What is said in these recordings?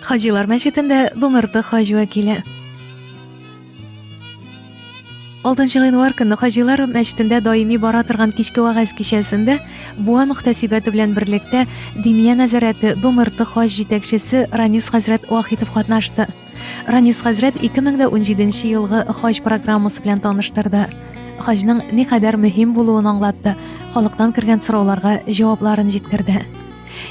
Хаҗилар мәчетендә Думырты хаҗ вәкиле. 6 январь көнне хаҗилар мәчетендә даими бара торган кичке вагаз кичәсендә Буа мөхтәсибәте белән берлектә Диния нәзарәте Думырты хаҗ җитәкчесе Ранис хәзрәт Вахитов катнашты. Ранис хәзрәт 2017 елгы хаҗ программасы белән таныштырды. Хаҗның никадәр мөһим булуын аңлатты, халыктан кергән сорауларга җавапларын җиткерде.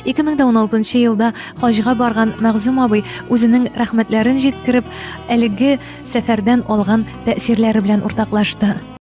2016 елда хаҗга барган Мәгъзүм абый үзенең рәхмәтләрен җиткереп, әлеге сәфәрдән алган тәэсирләре белән уртаклашты.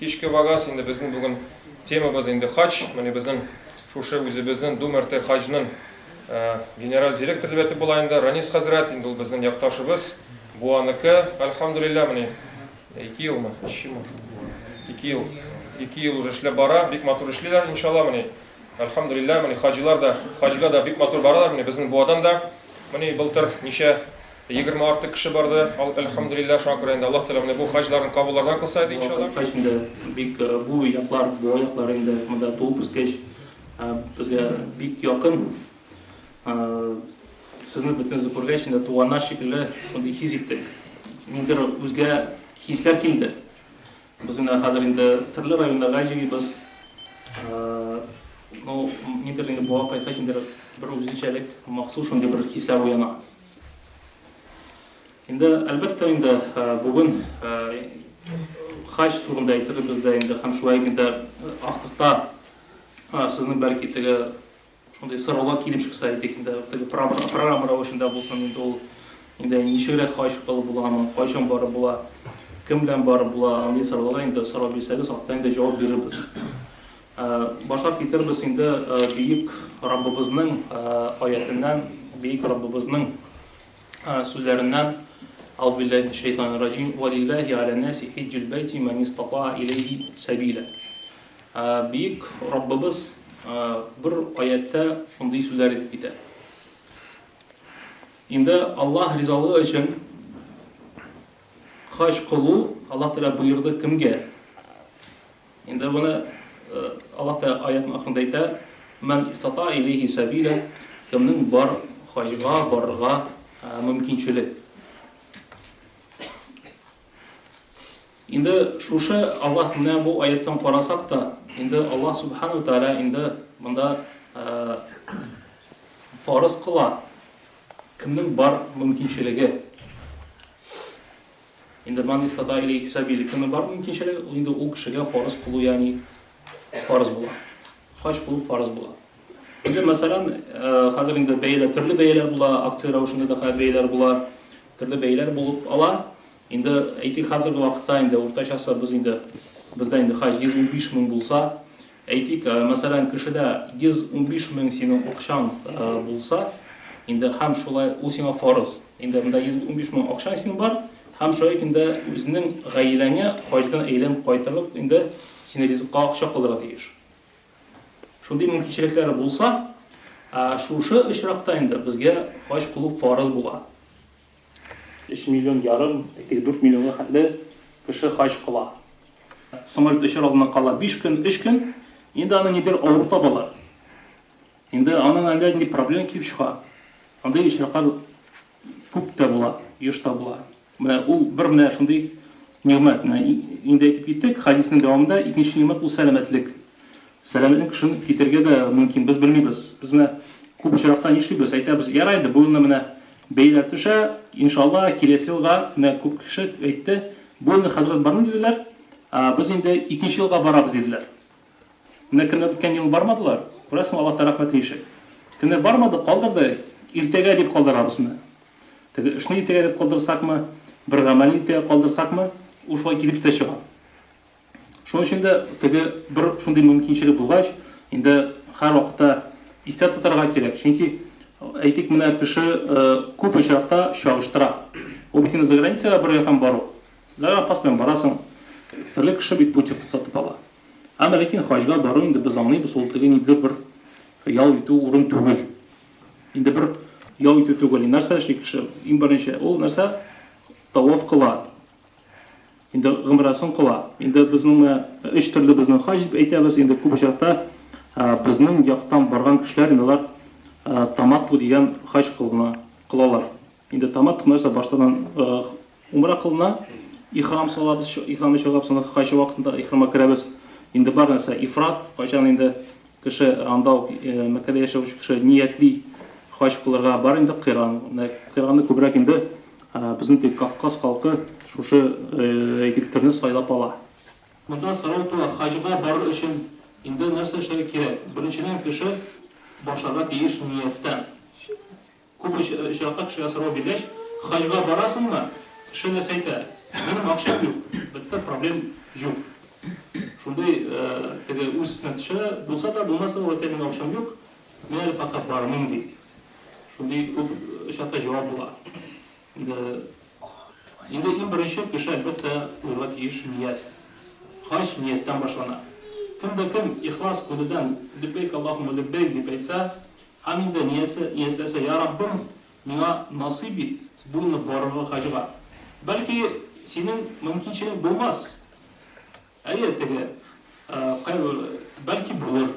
Кичке вагаз инде безнең бүген темабыз инде хаҗ. Менә безнең шушы үзебезнең Дум РТ хаҗның генераль директор дип әйтеп була инде. Ранис хәзрәт инде ул безнең якташыбыз, бу аныкы. Альхамдулилла, менә ике елмы, өч елмы? Ике ел. Ике ел уже эшләп бара, бик матур эшлиләр, иншалла, менә Әлхәмдүлилләһ, менә хаҗилар да, хаҗга да бик матур баралар, менә безнең Буадан да. Менә былтыр ничә 20 артык кеше барды. Ал әлхәмдүлилләһ, шуңа күрә инде Аллаһ Тәгалә менә бу хаҗларын кабуллардан кылса иде, иншаллаһ. Кайткач инде бик бу яклар, Буа яклары инде монда туып үскәч, безгә бик якын. Сезне бөтенесе күргәч инде туганнар шикелле шундый хис иттек. Ниндидер үзгә хисләр килде. Без менә хәзер инде төрле районнарга җыйбыз. Ну, нидер инде буа кайткач инде бер үзенчәлек, махсус шундый бер хисләр уяна. Инде, әлбәттә инде, бүген хаҗ турында әйтербез дә инде һәм шулай инде артыкта сезнең бәлки теге Шундый сораулар килеп чыкса идек инде, теге программа рәвешендә булсын инде ул. Инде ничегрәк хаҗ кылып буламы, кайчан барып була, кем белән барып була, андый сорауларга инде сорау бирсәгез, алда инде җавап бирербез. Башлап китербез инде Бөек Раббыбызның аятеннән, Бөек Раббыбызның сүзләреннән. Аузу биллахи минәш шәйтанир раҗим. Валиллахи аля наси хиҗҗул бәйти ман истатаа илейһи сабила. Бөек Раббыбыз бер аяттә шундый сүзләр әйтеп китә. Инде Аллаһ ризалыгы өчен хаҗ кылу Аллаһ Тәгалә боерды кемгә? Инде моны Аллаһ Тәгалә аятның ахырында әйтә, "Ман истата илейхи сабиля", кемнең бар хаҗга барырга мөмкинчелек. Инде шушы Аллаһ менә бу аятьтан карасак та, инде Аллаһ Сүбхәнәһү вә Тәгалә инде монда фарыз кыла, кемнең бар мөмкинчелеге. Инде ман истата иләйһи сәбиль, кемнең бар мөмкинчелеге, ул инде ул кешегә фарыз кылу, ягъни фарыз була. Хаҗ кылу фарыз була. Инде мәсәлән, хәзер инде бәяләр, төрле бәяләр була, акция рәвешендә дә хәзер бәяләр була, төрле бәяләр булып ала. Инде әйтик хәзерге вакытта инде уртачасы без инде бездә инде хаҗ 115 мең булса, әйтик, мәсәлән, кешедә 115 мең синең акчаң булса, инде һәм шулай ул сиңа фарыз. Инде монда 115 мең акчаң синең бар һәм шулай ук инде үзенең гаиләңә хаҗдан әйләнеп кайтырлык инде сине ризыкка акча калдыра тиеш. Шундый мөмкинчелекләре булса, шушы очракта инде безгә хаҗ кылу фарыз була. Өч миллион ярым, әйтик, дүрт миллионга хәтле кеше хаҗ кыла. Самолет очар алдыннан кала биш көн, өч көн, инде аны нидер авыр табалар. Инде аның әллә нинди проблема килеп чыга. Андый очраклар күп тә була, еш та була. Менә ул бер менә шундый нигъмәт. Менә инде әйтеп киттек, хадиснең дәвамында икенче нигъмәт ул сәламәтлек. Сәламлек эшен китергә дә мөмкин, без белмибез. Без менә күп очракта нишлибез, әйтәбез, ярай инде, бу елны менә бәяләр төшә, иншалла, киләсе елга, менә күп кеше әйтте, бу елны хәзрәт бармый диделәр, ә без инде икенче елга барабыз диделәр. Менә кемнәр үткән ел бармадылар, күрәсең, Аллаһтан рәхмәтен ишет. Кемнәр бармады, калдырды, иртәгә дип калдырабыз менә. Теге эшне иртәгә дип калдырсакмы, бер гамәлне иртәгә калдырсакмы, ул шулай килеп тә чыга. Шуның өчен дә теге бер шундый мөмкинчелек булгач, инде һәрвакытта истә тотарга кирәк. Чөнки, әйтик, менә кеше күп очракта чагыштыра. Ул бит инде заграницага бер яктан бару. Загранпаспорт белән барасың. Төрле кеше бит путевка сатып ала. Әмма ләкин хаҗга бару инде без аңлыйбыз, ул теге ниндидер бер ял итү урын түгел. Инде бер ял итү түгел. Нәрсә эшли кеше? Иң беренче, ул нәрсә? Таваф кыла. Инде гомрәсен кыла. Инде безнең менә өч төрле безнең хаҗ дип әйтәбез. Инде күп очракта безнең яктан барган кешеләр инде алар таматту дигән хаҗ кылына, кылалар. Инде таматту нәрсә баштаннан умра кылына, ихрам салабыз, ихрамны чыгарабыз, аны хаҗ вакытында ихрамга керәбез. Инде бар нәрсә ифрат, кайчан инде Кеше анда ук Мәккәдә яшәүче кеше ниятли хаҗ кылырга бар инде кыйран. Кыйраны күбрәк инде безнең теге Кавказ халкы шушы әйтик төрне сайлап ала. Монда сорау туа, хаҗга барыр өчен инде нәрсә эшләргә кирәк? Беренчедән кеше башларга тиеш нияттән. Күп очракта кешегә сорау биргәч, Хаҗга барасыңмы? Кеше нәрсә әйтә? Минем акчам юк. Бетте, проблем юк. Шундый теге үз өстенә төшә, булса да, булмаса да, әйтә, минем акчам юк, мин әле пока бармыйм, ди. Шундый күп очракта җавап була. Инде, инде иң беренче кеше, әлбәттә, куярга тиеш ният. Хаҗ нияттән башлана. Кем дә кем ихлас күңелдән леббәйк Аллаһуммә леббәйк дип әйтсә, Һәм инде ниясе ниятләсә, Йа Раббым, миңа насыйп ит буйнып барырга хаҗга. Бәлки, синең мөмкинчелек булмас. Әйе, теге, кайбер, бәлки булыр.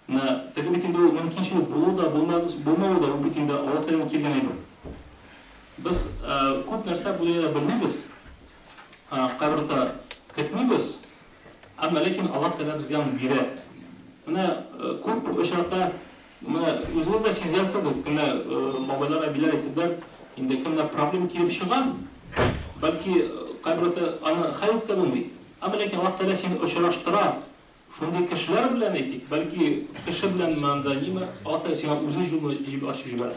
Менә теге бит инде ул мөмкинчелек булуы да, булмас, булмавы да, ул бит инде Аллаһ Тәгаләдән килгән әйбер. Без күп нәрсә бу дөньяда белмибез, кабер дә көтмибез, Әмма ләкин Аллаһ Тәгалә безгә аны бирә. Менә күп очракта менә үзегез дә сизгәнсез бит, кемнәр бабайлар, әбиләр әйттеләр, инде кемнәр проблем килеп чыга, бәлки кайберәүләр аны хәл итә белми. Әмма ләкин Аллаһ Тәгалә сине очраштыра шундый кешеләр белән, әйтик, бәлки кеше беләнме анда, ниме, Аллаһ Тәгалә сиңа үзе җулны ачып җибәрә.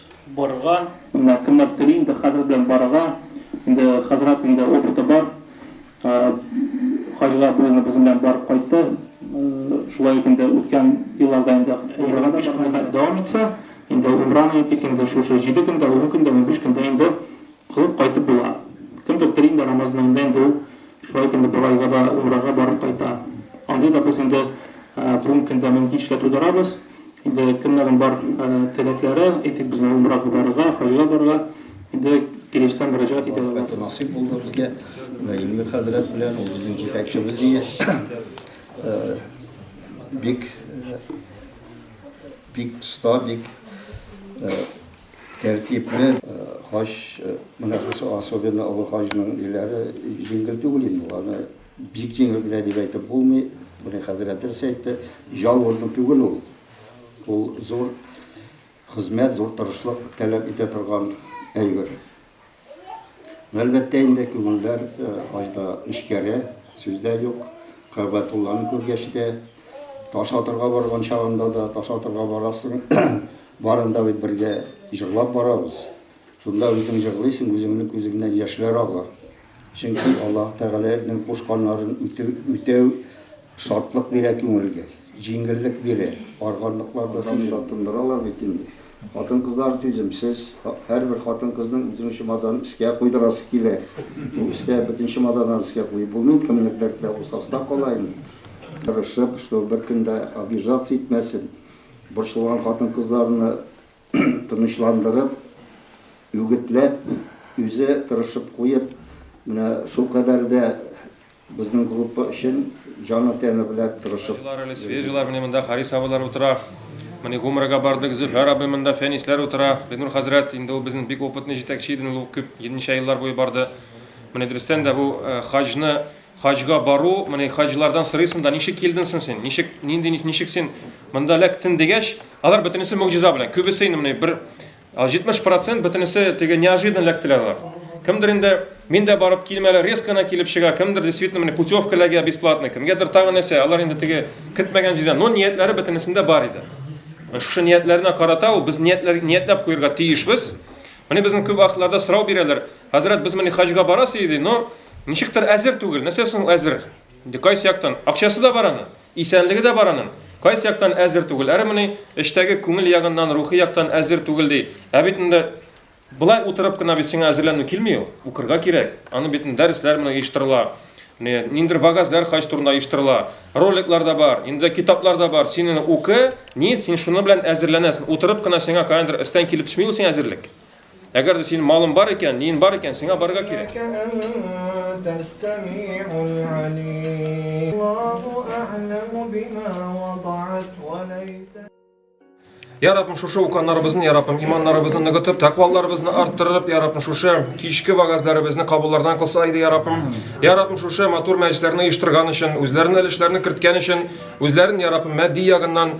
Барырга. Менә кемнәр тели инде хәзрәт белән барырга. Инде хәзрәт инде опыты бар. Хаҗга бу елны безнең белән барып кайтты. Шулай ук инде үткән елларда инде Умрага да барган иде. Дәвам итсә, инде Умраны әйтик, инде шушы җиде көндә, ун көндә, унбиш көндә инде Кылып кайтып була. Кемдер тели инде Рамазан аенда инде ул шулай икән дип Бабайга да умрага барып кайта. Андый да без инде бүгенге көндә мөмкинчелек тудырабыз. Инде кемнәрнең бар теләкләре, әйтик без инде умрага барырга, хаҗга барырга инде килештән мөрәҗәгать итә аласыз. Вакыты насыйп булды безгә Илмир хәзрәт белән ул безнең җитәкчебез дия. Бик бик оста, бик Тәртипне хаҗ мөнәфәсе особенно олы хаҗның ниләре җиңел түгел инде ул аны бик җиңел генә дип әйтеп булмый моны хәзрәт дөрес әйтте җал урыны түгел ул ул зур хезмәт зур тырышлык таләп итә торган әйбер. Әлбәттә инде күңелләр хаҗда нечкәрә, сүз дә юк. Кәгъбәтулланы күргәч тә, таш атырга барган чагында да, таш атырга барасың, барын да бит бергә җырлап барабыз. Шунда үзең җырлыйсың, үзеңнең күзеңнән яшьләр ага. Чөнки Аллаһ Тәгаләнең кушканнарын үтәү шатлык бирә күңелгә, җиңеллек бирә. Арганлыклар да син да тындыралар бит инде. Хатын-кызлар түземсез. Һәрбер хатын-кызның үзенең чемоданын өскә куйдырасы килә. Бу өстә бөтен чемоданнарны өскә куеп булмый, кемнең дәртләре булса аста кала инде. Тырышып, что беркем дә обижаться итмәсен. Борчылган хатын-кызларны тынычландырып, үгетләп, үзе тырышып куеп, менә шулкадәр дә безнең группа өчен җаны-тәне белән тырышып. Таҗлар әле свежийлар, менә монда Харис абыйлар утыра. Менә Гомрага бардык, Зөфәр абый монда, Фәнисләр утыра. Бинур хәзрәт, инде ул безнең бик опытный җитәкче иде, ул күп, ничә еллар буе барды. Менә дөрестән дә бу хаҗны Хаҗга бару, менә хаҗилардан сорыйсың да, ничек килдең син син? Ничек, нинди, ничек син монда эләктең дигәч, алар бөтенесе могҗиза белән. Күбесе инде менә бер 70 процент бөтенесе теге неожиданно эләктеләр алар. Кемдер инде мин дә барып килмәле, резко гына килеп чыга, кемдер действительно менә путевка эләгә бесплатный, кемгәдер тагы нәрсә, алар инде теге көтмәгән җирдән, но ниятләре бөтенесендә бар иде. Шушы ниятләренә карата ул без ниятләр ниятләп куярга тиешбез. Менә безнең күп вакытларда сорау бирәләр, Хәзрәт, без менә хаҗга барасы иде, но ничектер әзер түгел. Нәрсә соң әзер? Инде кайсы яктан? Акчасы да бар аның, исәнлеге дә бар аның. Кайсы яктан әзер түгел? Әре менә эштәге күңел ягыннан, рухи яктан әзер түгел ди. Ә бит инде былай утырып кына бит сиңа әзерләнү килми ул. Укырга кирәк. Аны бит дәресләр менә оештырыла. Ниндер вагазлар хаҗ турында оештырыла. Роликлар да бар, инде китаплар да бар. Синең укы, ни, син шуны белән әзерләнәсең. Утырып кына сиңа каяндыр өстән килеп төшми ул сиңа әзерлек. Әгәр дә синең малың бар икән, ниең бар икән, сиңа барырга кирәк. Я Раббым, шушы уканнарыбызны, Я Раббым, иманнарыбызны ныгытып, тәкъвалларыбызны арттырып, Я Раббым, шушы кичке вагазларыбызны кабуллардан кылса иде, Я Раббым. Я Раббым, шушы матур мәҗлесләрне оештырган өчен, үзләренең өлешләрен керткән өчен, үзләрен, Я Раббым, матди ягыннан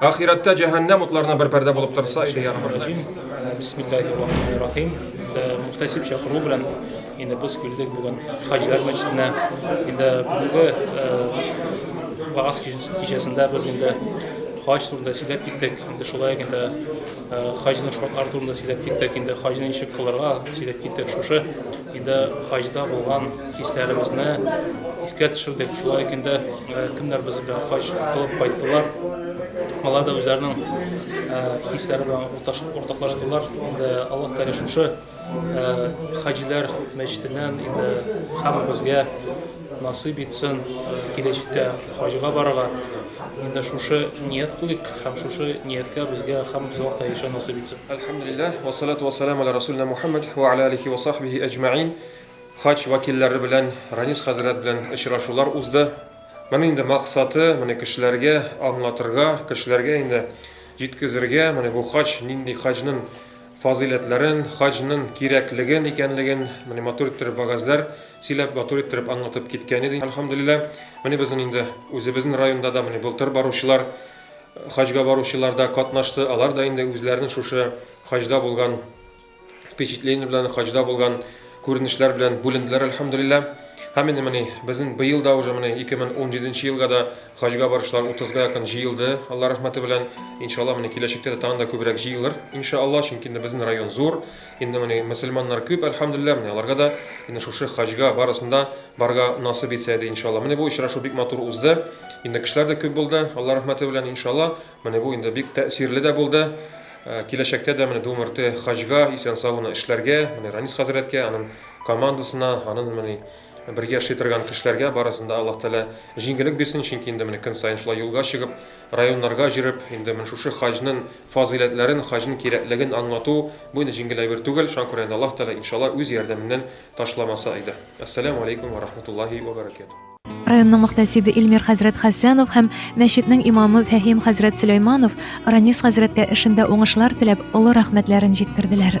Ахирәттә җәһәннәм утларына бер пәрдә булып торса иде, я Раббым. Бисмиллаһир-рахманир-рахим. Мөхтәсиб чакыру белән инде без килдек бүген Хаҗилар мәчетенә. Инде бүгенге вагаз кичәсендә без инде хаҗ турында сөйләп киттек. Инде шулай инде хаҗның шартлары турында сөйләп киттек. Инде хаҗны ничек кылырга сөйләп киттек. Шушы Иде хаҗда булган хисләребезне искә төшердек. Шулай икән дә кемнәр без белән хаҗ кылып кайттылар. Алар да үзләренең хисләре белән уртаклаштылар. Инде Аллаһ Тәгалә шушы хаҗилар мәчетеннән инде һәммәбезгә Насыйп итсен киләчәктә хаҗга барырга. Инде шушы ният кылыйк һәм шушы нияткә безгә һәммәбезгә вакытта ирешә насыйп итсен. Әлхәмдүлилләһ, вә салату вә саләмү ала Рәсүлнә Мухәммәд вә ала алихи вә сахбихи әҗмәгыйн. Хаҗ вәкилләре белән Ранис хәзрәт белән очрашулар узды. Моның инде максаты, моны кешеләргә аңлатырга, кешеләргә инде җиткезергә, менә бу хаҗ нинди, хаҗнын фазыйләтләрен, хаҗнын кирәклеген икәнлеген менә матур иттереп вагазләр сөйләп, матур иттереп аңлатып киткән иде, әлхәмдулилла. Менә безнен инде үзебезнен районда да менә былтыр баручылар, хаҗга баручылар да катнашты, алар да инде үзләренен шушы хаҗда булган впечатление белән, хаҗда булган күренешләр белән бүленделәр, әлхәмдулилла. Һәм инде менә безнен быел да уже менә 2017 нче елга да Хаҗга баручылар утызга якын җыелды, Алла рәхмәте белән. Иншалла, менә киләчәктә дә тагын да күбрәк җыелыр, иншалла, чөнки инде безнең район зур, инде менә мөселманнар күп, әлхәмдүлилләһ, менә аларга да инде шушы хаҗга барысын да барырга насыйп итсә иде, иншалла. Менә бу очрашу бик матур узды, инде кешеләр дә күп булды, Алла рәхмәте белән, иншалла, менә бу инде бик тәэсирле дә булды. Э, киләчәктә дә менә Думырты хаҗга исән-сау гына эшләргә, менә Ранис хәзрәткә, аның командасына, аның менә Бергә эшли торган кешеләргә барысын да Аллаһ Тәгалә җиңгелек бирсен, чөнки инде менә көн саен шулай юлга чыгып, районнарга җөреп, инде менә шушы хаҗнын фазыйләтләрен, хаҗнын кирәклеген аңлату, бу инде җиңгел әйбер түгел, шуңа күрә инде Аллаһ Тәгалә, иншалла, үз ярдәменнән ташламаса иде. Әссәләмү алейкүм вә рахматуллаһи вә бәрәкәтүһ. Районның мөхтәсибе Илмир хәзрәт Хәсәнов һәм мәчетнең имамы Фәһим хәзрәт Сөләйманов Ранис хәзрәткә эшендә уңышлар теләп, олы рәхмәтләрен җиткерделәр.